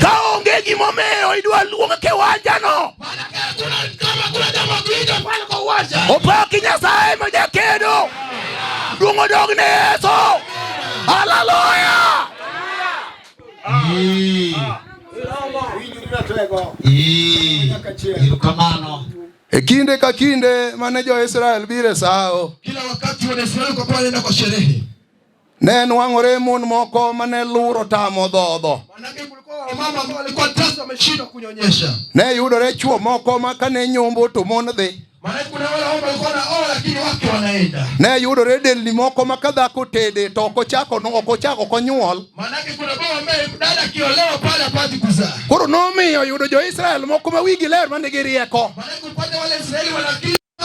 Ka onge gimomiyo idwa luong kiwanjano, opaki Nyasaye ma jakedo, duong' odog ne Yesu. Haleluya! E kinde ka kinde mane jo-Israel biro e sawo, kila wakati wana Israeli kwa kuwa wanaenda kwa sherehe Ne nwang'ore mon moko mane luro tamo dhodho. Ne yudore chwo moko ma kane nyombo to mon dhi. Ne yudore delni moko ma ka dhako tede to ok ochako ok ochako ok onyuol. Koro nomiyo yudo jo-Israel moko ma wigi ler ma nigi rieko.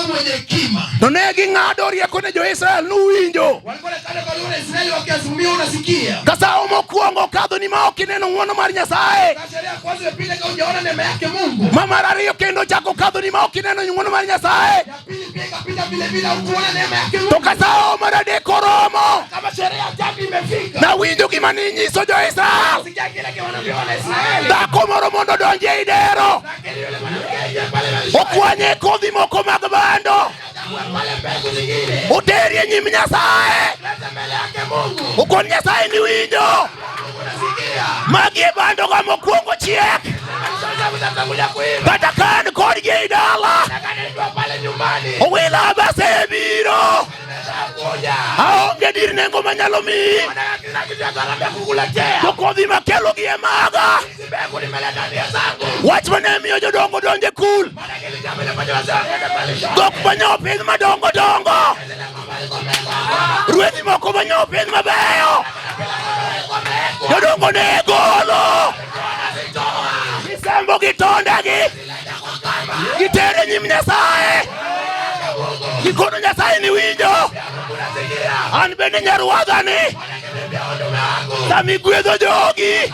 mwenye hekima. To ne ging'ado rieko ne jo-Israel nuwinjo. Walikuwa wanakata kwa wana Israeli wakiazimia unasikia. Kasa omo kuongo kadho ni ma ok ineno ng'wono mar Nyasaye. Kasa ya kwanza pile ka ujaona neema yake Mungu. Ma mar ariyo kendo chako kadho ni ma ok ineno ng'wono mar Nyasaye. Ya pili pia ikapita vile vile ukuona neema yake Mungu. To kasa omo mar adek oromo. Kama sherehe ya tatu imefika. Na winjo gima ninyiso jo-Israel. Sikia kile kiwanavyo wana Israeli. Dhako moro mondo donje idero. okwanye kodhi moko mag bando oteri e nyim Nyasaye okon Nyasaye ni winjo magi e bando ga mokwongo chiek kata kan kodgi e dala owila base biro aonge dir nengo manyalo miyi to kodhi makelogi e maga Wach ma ne miyo jodongo donjo e kul dhok manyo piny madongo dongo, ruedhi moko manyo piny mabeyo, jodongo ne golo gisembo gi tondegi gitere nyim Nyasaye gikono Nyasaye ni winjo an bende nyaruadhani sami gwedho jogi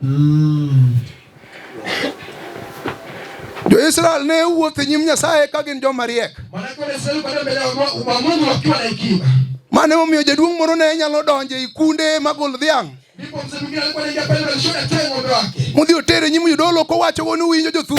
Mm. Jo-Israel ne wuotho e nyim Nyasaye ka gin joma riek. Mane omiyo jaduong' moro ne nyalo donjo e kunde magol dhiang'. Mudhi otere nyim jodolo kowacho ni uwinjo jothuru.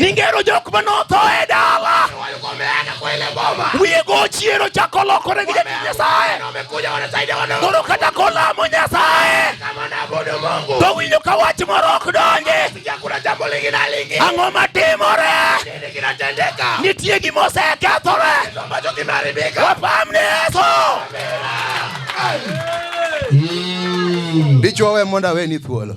Ningero jok ma notho e dala. Wiye go chiero chako lokore gi jatich Nyasaye. Koro kata kolamo Nyasaye. To winjo ka wach moro ok donji. Ang'o matimore? Nitie gima osekethore. Wapam ni Yesu. Dichwo we mondo aweni thuolo.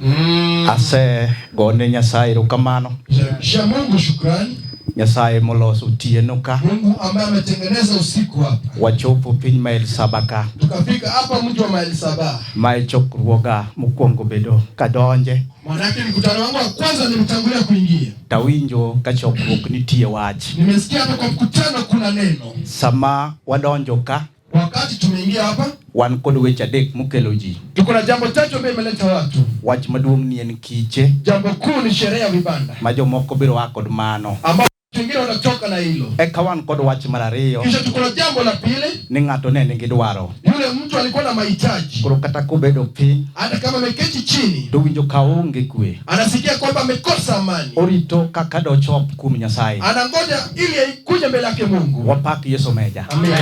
Mm. Ase gone Nyasaye erokamano. Sha Mungu shukrani. Nyasaye moloso otieno ka. Mungu ambaye ametengeneza usiku hapa. Wachopo piny mael saba ka. Tukafika hapa mji wa mael saba. Mae chokruoga mokwongo bedo kadonje. Manake mkutano wangu wa kwanza nilitangulia kuingia. Tawinjo ka chokruok nitie wach. Nimesikia hapa kwa mkutano kuna neno. Sama wadonjo ka Wakati tumeingia hapa, wan kod weche adek mokelo ji. Tuko na jambo tatu ambayo imeleta watu. Wach maduong' ni en kiche. Jambo kuu ni sherehe ya vibanda. Ma jomoko biro wa kod mano. Ambao wengine wanatoka na hilo. Eka wan kod wach mar ariyo. Kisha tuko na jambo la pili. Ni ng'ato ne nigi dwaro. Yule mtu alikuwa na mahitaji. Koro kata kobedo piny. Hata kama ameketi chini. To winjo ka onge kwe. Anasikia kwamba amekosa amani. Orito kaka dochop kuom Nyasaye. Anangoja ili kuja mbele yake Mungu. Wapak Yesu meja. Amen.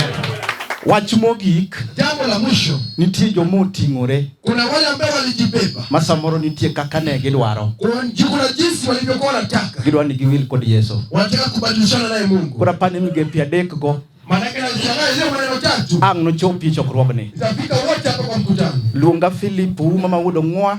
Wach mogik, jambo la mwisho, nitie joma oting'ore, kuna wale ambao walijibeba, ma samoro nitie kaka ne gidwaro, kuna jinsi walivyokuwa wanataka, gidwaro ni giwil kod Yesu, wanataka kubadilishana naye Mungu. Kuna pani migepe adek go ang' nochopi chokruogni. Luonga Filipu mama wuod Ong'wa.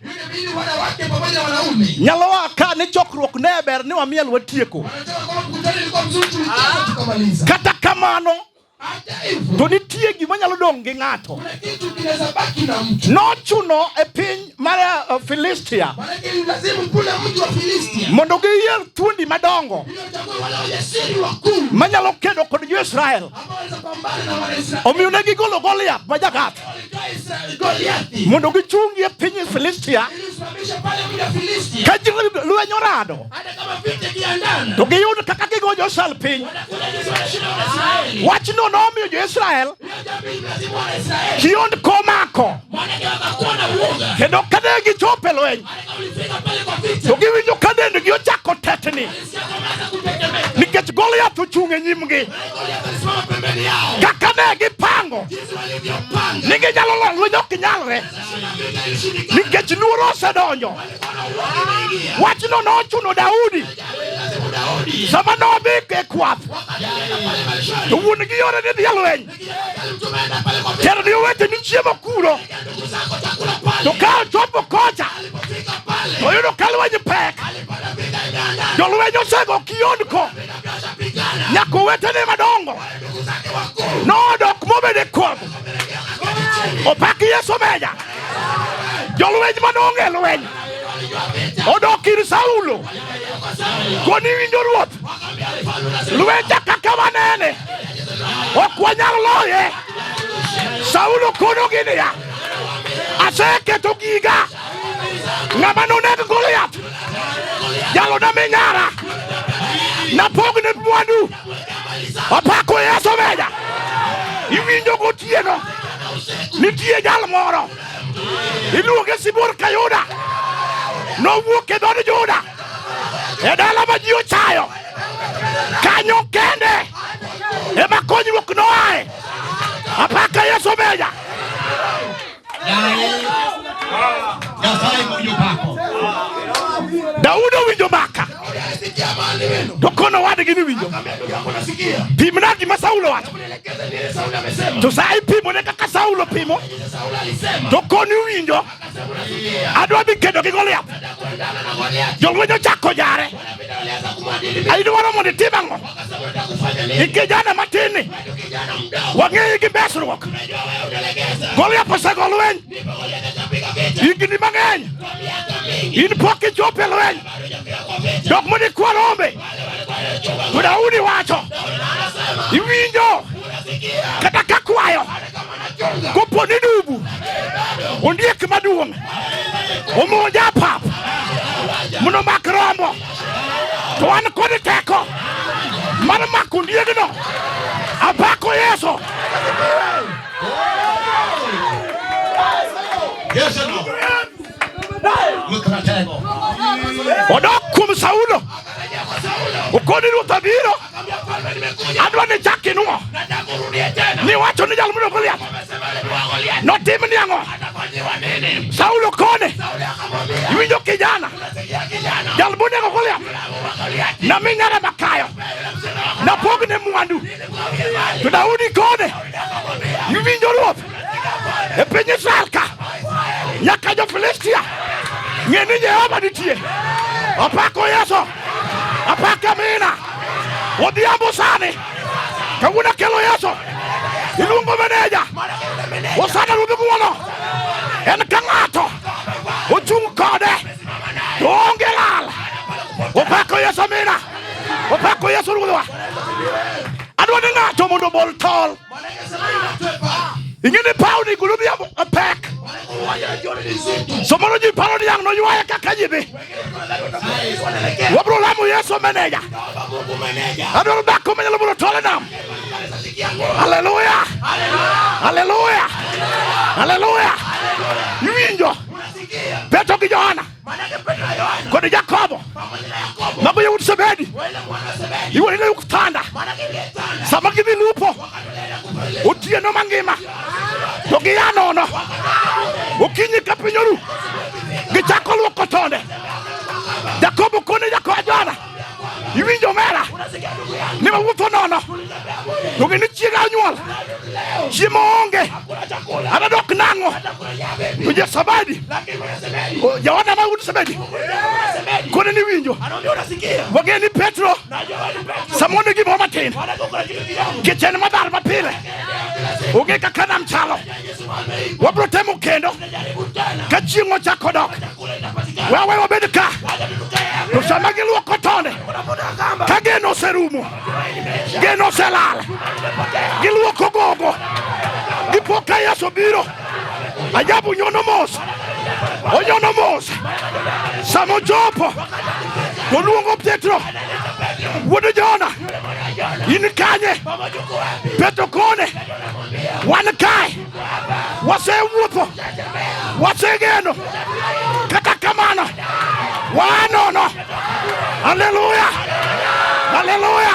Nyalowa ka ni chokruok ne ber ni wamiel watieko. Kata kamano to nitie gima nyalo dong' gi ng'ato. Nochuno e piny mar eh, Filistia mondo giyier thuondi madongo manyalo kedo kod jo-Israel. Omiyo ne gigolo Goliath ma Jagath. mondo gichungi e piny Filistia ka ji lweny orado to giyud kaka gigo josal piny wachno nomiyo jo-Israel kiond komako kendo kane gichopo e lweny to giwinjo ka dendgi ochako tetni nikech Goliath ochung' e nyimgi kaka ne gipango ni ginyalo lor lweny ok nyalre nikech luoro osedonjo. Wachno nochuno Daudi sama nodhi e kwath to wuon gi yore ni dhi e lweny Tena ni wete ni chie makuro. To ka chopo kocha. To yudo kalwenye pek. Jolwenye osego kiondko. Nyaka wetene madongo. Nodok mobede kuom. Opak Yesu meja. Jolweny manonge lweny. Odok ir Saulo. Koni winjo ruoth lweta kaka wanene ok wanyal loye. Saulo konogi niya, aseketo giga ng'ama noneg Goliath jalona minyara napogne mwandu opako Yesu meja iwinjo gotieno nitie jal moro Iluonge Sibuor Kayuda. Nowuok e dhood Juda e dala ma ji ochayo. Kanyo kende ema konyruok noae. Apaka Yesu omeja. Daudi owinjo maka to kono wadgi ni winjo. Pimna gima Saulo wacho. To sa ipimone kaka Saulo pimo to koni winjo adwa dhi kedo gi Goliath. Jolweny ochako jare, idwaro mondo itim ang'o? Ikijana matinni wang'eyi gi mesruok. Goliath osego lweny higni mang'eny, in pok ichopo e lweny. Jok mane kwa rombe to Daudi wacho iwinjo kata kakwayo kopo ni dubu ondiek maduong' omonj apap mondo mak rombo to an kod teko mar mako ondiegno apako Yesu. Odok kuom Saulo okoni ruoth abiro adwa ni chak inwo ni wacho ni jal mudo Goliath notim ni ang'o Saulo kone iwinjo kijana jal munego Goliath nami ng'ara makayo napogne mwandu to Daudi kone iwinjo ruoth e piny Israel ka nyaka jo Filistia ng'e ni Jehova nitie opako Yesu Apake amina. Odhiambo sani. Kawuono kelo Yesu. Iluongo meneja. Osana ruodhi guono. En ka ng'ato ochung' kode to onge lal. Opako Yesu amina. Opako Yesu ruodhwa. Adwa ni ng'ato mondo obol tol. Ing'e ni paw ni gulu odhiambo pek. Somoro ji paro ni ang' noywaye kaka ji dhi. wabro lamo Yesu meneja abiro dak kome nyalo biro tole nam haleluya haleluya haleluya iwinjo Petro gi Johana kod Jakobo mago yawuot Zebedi iwuon ile ukutanda sama gidhi lupo otieno mangima to gia nono. Okinyi ka piny oru, gichako luoko tonde. Jakobo kone jakoa Johana, iwinjo mera ni wawuotho nono, to gini chiega onyuol, chiemo onge, ana dok nang'o. To Jasabadi, Johana ma wuod Sabedi, kone ni winjo, wageni Petro, samone gimoro matin, kichen madhar mapile onge kaka nam chalo wabro temo kendo ka chieng' ochako dok wawe wabed ka to sama giluoko tonde ka geno oserumo geno oselal giluoko gogo gipo ka yesu biro ajabu nyono mos onyono mos sama ochopo toluongo petro wuod jona in kanye Petro kone wan kae wasewuotho wasegeno kata kamano wanono haleluya haleluya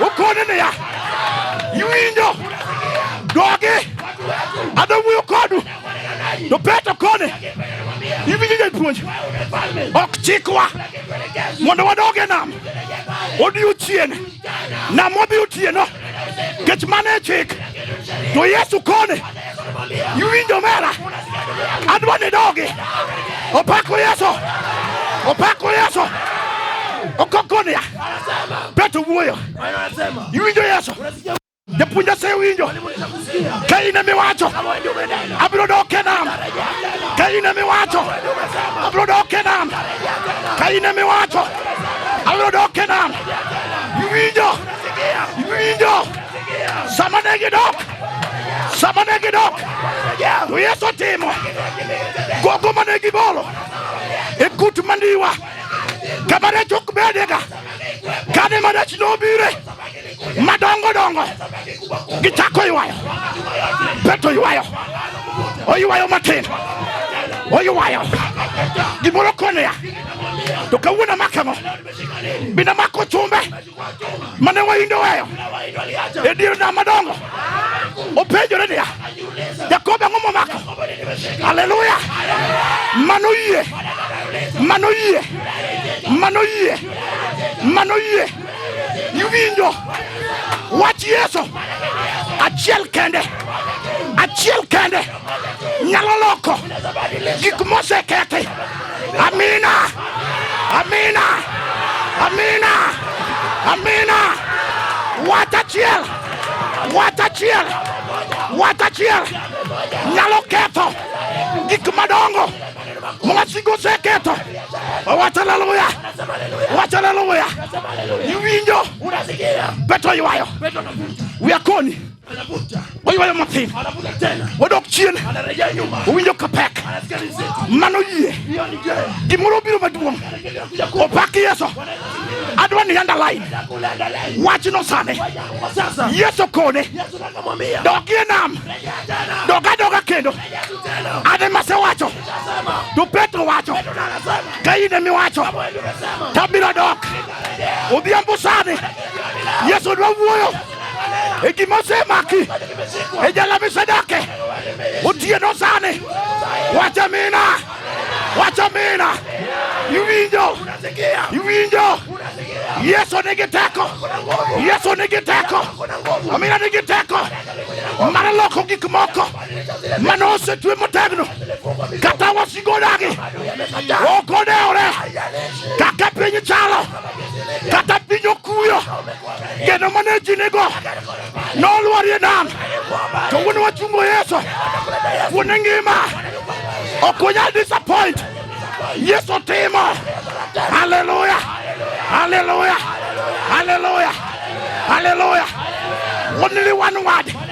ukone niya iwinjo dogi adwa wuoyo kodu to Petro kone iwinjo japuonj ok chikwa mondo wadog e nam odiechieng' Namobi Otieno kech mane e chik to Yesu kone iwinjo mera adwa ni dogi opako Yesu opako Yesu okokonia peto wuoyo iwinjo Yesu Japuonj asewinjo ka in emiwacho abiro dok e nam, ka in emiwacho abiro dok e nam, ka in emiwacho abiro dok e nam. Iwinjo, iwinjo sama ne gidok, sama ne gidok to Yesu otimo gogo mane gibolo e kut mandiwa kama rech ok bedega kane marech nobire madongo dongo gichako ywayo peto ywayo oywayo matin oywayo gimoro konoya to kawuono amakang'o bina mako chumbe mane waindo weyo e dier nam madongo openjore niya jakobo ang'o momako aleluya mano yie mano yie mano yie mano yie Iwinjo wach Yesu achiel kende, achiel kende nyalo loko gik mosekethi. Amina, amina, amina, amina. Wach achiel, wach achiel, wach achiel nyalo ketho gik madongo. Mwasi go seketo. Wacha haleluya. Wacha haleluya. Iwinjo. Unasikia. Petro yuayo. Petro anavuta. Uyakoni. Anavuta. Oyuayo matin. Anavuta tena. Odok chien. Anarejea nyuma. Uwinjo kapek. Anasikia nzito. Mano yie. Hiyo ni gere. Gimoro biro maduong'. Opaki Yesu. Adwa ni underline. Wachno sani. Yesu kone. Yesu nakamwambia. Dogie nam. Doga doga kendo. Ane mase wacho to Petro wacho ka in emi wacho to abiro dok odhiambo sani. Yesu dwa wuoyo e gima osemaki e jala misedake otieno sani. Wach amina, wach amina. Iwinjo, iwinjo. Yesu nigi teko, Yesu nigi teko, amina nigi teko mar loko gik moko. mane osetwe motegno kata wasigo dagi ok odewore kaka piny chalo kata piny okuyo geno mane ji nigo nolwarie nam to wuon wachungo yesu wuone ngima ok onyal disappoint yesu timo haleluya haleluya haleluya haleluya only one word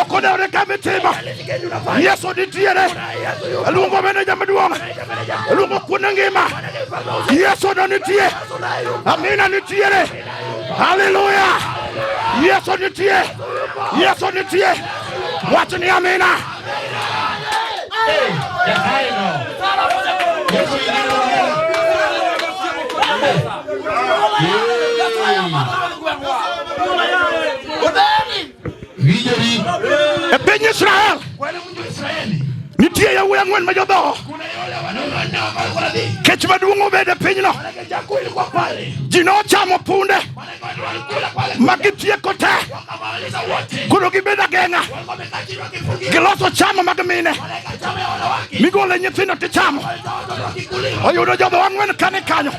okoneoreka mitima yesu nitiere luongo meneja maduong' luongo kuonde ngima yesu no nitie amina nitiere haleluya yesu nitie yesu nitie wach ni amina E piny Israel nitie yawuoyi ang'wen ma jodhoho kech maduong' obed e pinyno ji nochamo punde magitieko te koro gibedo ageng'a giloso chama mag mine migole nyithindo tichamo oyudo jogo wang'wen kane kanyo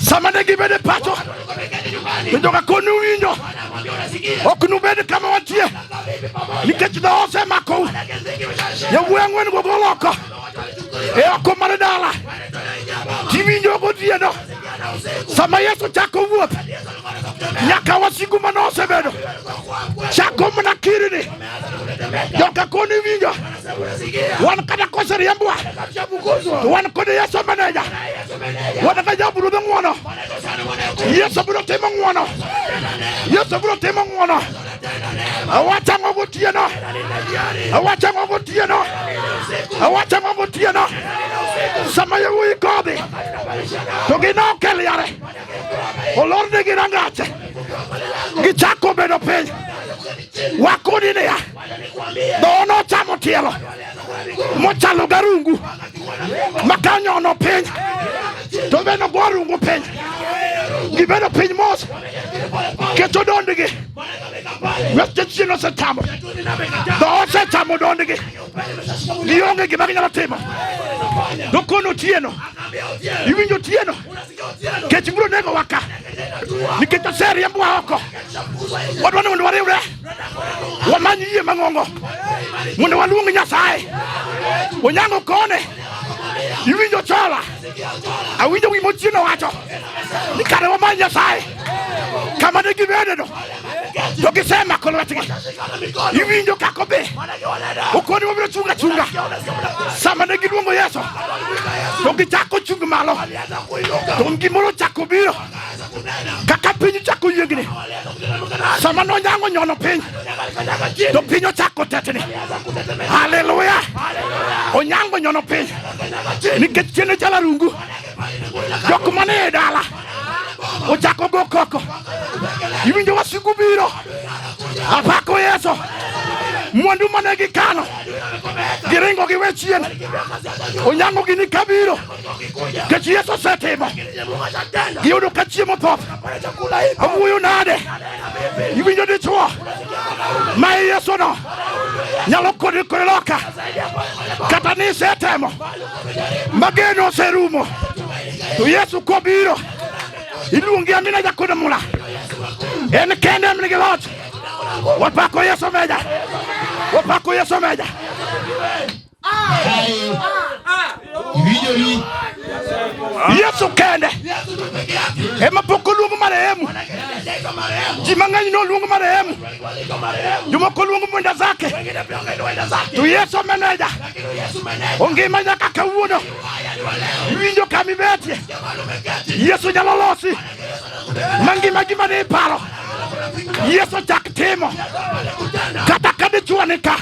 sama ne gibedo e pacho to joka koni winjo ok nubed kama watie nikech dho osemakou yawuoyi ang'wen go goloko eo komane dala kiwinjo gotieno sama yesu chako wuoth nyaka wasigu mane osebedo chako mana kirini joka koni winjo wan kata koseriembwa to wan kod yesu meneja wan ka jabu ruodhe ng'wono yesu biro timo ng'wono yesu biro timo ng'wono Awacha ngo gotieno. Awacha ngo gotieno. Awacha ngo gotieno. Sama yawuoyi kodhi to ginok e liare olornegi rangache gichako bedo piny wakoni niya dhowo nochamo tielo mochalo garungu makanyono piny to be nogorungu piny gibedo piny mos Keto dondgi. Wetegi nosetamo. Dhoot setamo dondgi. Gionge gima ginyalo timo. To kono otieno. Iwinjo otieno. Kech biro nego waka. Nikech oseriembwa oko. Wadwa ni mondo wariwre. Wamany yie mang'ongo. Mondo waluong Nyasaye. Onyango kone. iwinjo chola awinjo wi mochieno wacho ni kare wamany nyasaye kama ne gibedeno to gisemako lwetgi iwinjo kako be okoni wabiro chung' achunga sama ne giluongo yesu to gichako chung' malo to gimoro chako biro kaka piny chako yiengni sama nonyango nyono piny to piny ochako tetni haleluya onyango nyono piny nikech tiene chala rungu jok mane e dala ochako go koko iwinjo wasigu biro apako yeso mwandu mane gikano giringo giwe chien onyango gini kabiro Nikech Yesu osetimo giyudo ka chiemo thoth. Awuoyo nade? Iwinjo dichwo ma Yesuno nyalo kodi kore loka kata ni isetemo mageno oserumo to Yesu kobiro iluongi amina jakodo mula en kende en nigi loch wapako Yesu meja wapako Yesu meja Yesu kende ema pok oluongo marehemu. Ji mang'eny ne oluongo marehemu, jomoko oluongo mwenda zake, to Yesu meneja ongima nyaka kawuono. Iwinjo kama ibetie, Yesu nyalo losi mangima gima ne iparo Yesu chak timo kata ka dichwo nika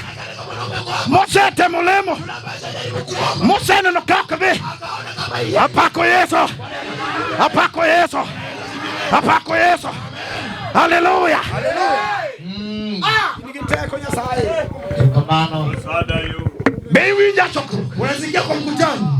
Mose atemo lemo, Mose aneno kaka be apako Yesu, apako Yesu, apako Yesu. Haleluya! Mm. Ah! Be iwinja chokruok? Unaingia kwa mkutano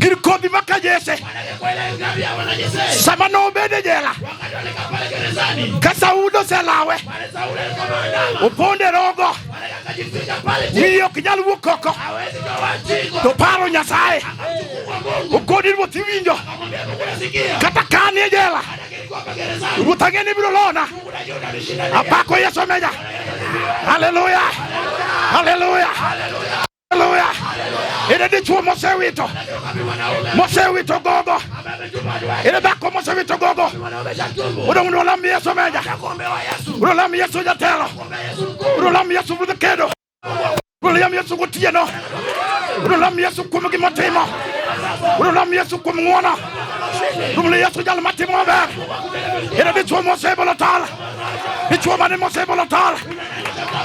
Gin kodhi ma ka Jesse sama nobede jela ka Saul oselawe oponde rogo wiye ok nyal wuok oko to paro Nyasaye okodi ruoth iwinjo kata kani e jela ruoth ang'e ni biro lona apako Yesu menya haleluya haleluya Haleluya! Ile dichuo mose wito mose wito gogo ile dhako mose wito gogo udo mundo lam Yesu meja udo lam Yesu jatelo udo lam Yesu budh kedo udo lam Yesu gotieno udo lam Yesu kuom gima otimo udo lam Yesu kuom ng'wono udo Yesu jal matimo maber ile dichuo mose bolo tal dichuo mane mose bolo tal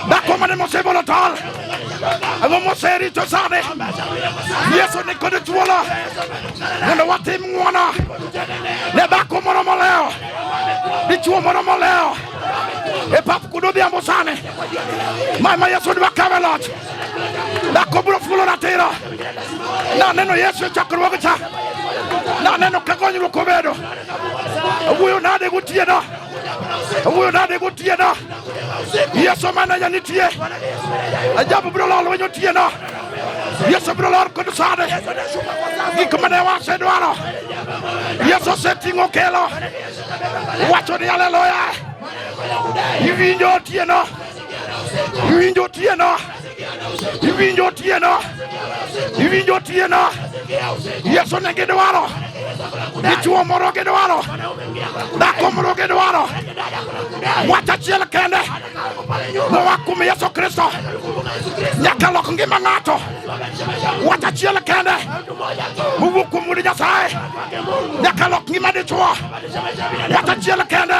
dhako mane mose bolo tal Ang'o moserito sani? Yesu ni kod thuolo mondo watim ng'wono ne dhako moro moleo, dichwo moro moleo e pap kuno odhiambo sani. Mae ma Yesu dwa kawe loch. Dhako biro fulo ratiro. Naneno Yesu e chakruoge cha. Naneno ka konyruok obedo. Wuoyo nade gotieno? wuyo nade gotiena yesu mananya nitie ajabu biro lol wenyo tiena yesu biro lor kod sade gik mane wasedwaro yesu oseting'o kelo wacho ni aleluya iwinjo tiena iwinjo tiena iwinjo tieno iwinjo tieno yesu ne gidwaro dichuo moro gidwaro dhako moro gidwaro wach achiel kende moa kuom yesu kristo nyaka lok ngima ng'ato wach achiel kende mowuok kuom wuod nyasaye nyaka lok ngima dichuo wach achiel kende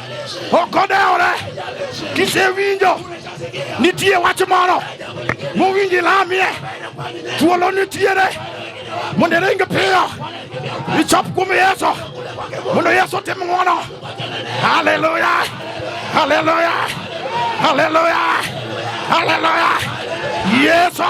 okodewore kisewinjo nitie wach moro mowinji lamie thuolo nitiere mondo iring piyo ichop kuom yesu mondo yesu otim ng'wono haleluya haleluya haleluya haleluya yesu